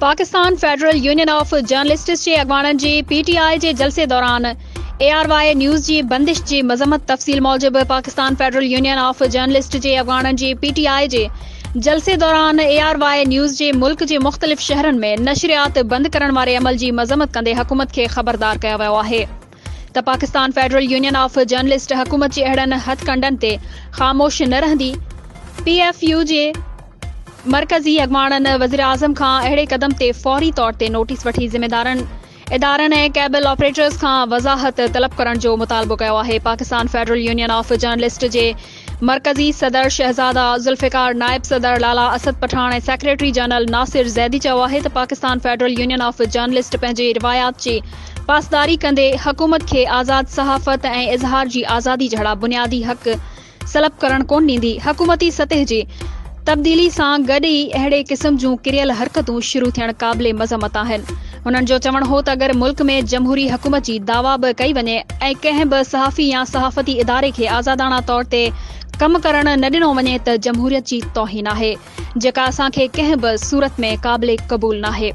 Pakistan federal union of journalists جي اڳواڻن جي پي ٽي آء جي جلسي دوران اي آر واء نيوز جي بندش جي مذمت تفصيل موجب Pakistan federal union of journalist جي اڳواڻن جي پي ٽي آء جي جلسي دوران اي آر واء نيوز جي ملڪ جي مختلف شهرن ۾ نشريات بند ڪرڻ واري عمل جي مذمت ڪندي حڪومت کي خبردار ڪيو ويو آهي ته Pakistan federal union of journalist حڪومت جي اهڙن هٿڪنڊن تي خاموش نه رهندي، پي ايف يو جي مرڪزي اڳواڻن وزيراعظم کان اهڙي قدم تي فوري طور تي نوٽيس وٺي ذميدارن ادارن ۽ ڪيبل آپريٽرز کان وضاحت طلب ڪرڻ جو مطالبو ڪيو آهي، Pakistan federal union of journalist جي مرڪزي صدر شهزاده ذوالفقار، نائب صدر لالا اسد پٺاڻ ۽ سيڪريٽري جنرل ناصر زيدي چيو آهي ته Pakistan federal union of journalist پنهنجي روايات جي پاسداري ڪندي حڪومت کي آزاد صحافت ۽ اظهار جي آزادي جهڙا بنيادي حق سلب ڪرڻ ڪونه ڏيندي، حڪومتي سطح جي تبديلي سان گڏ ئي اهڙي قسم جون ڪريل حرڪتون شروع ٿيڻ قابل مذمت آهن. هنن جو چوڻ هو ته اگر ملڪ ۾ جمهوري حڪومت جي دعويٰ به ڪئي وڃي ۽ ڪنهن به صحافي يا صحافتي اداري کي آزاداڻا طور تي ڪم ڪرڻ نه ڏنو وڃي ته جمهوريت جي توهين آهي جيڪا اسان کي ڪنهن به صورت ۾ قابل قبول ناهي.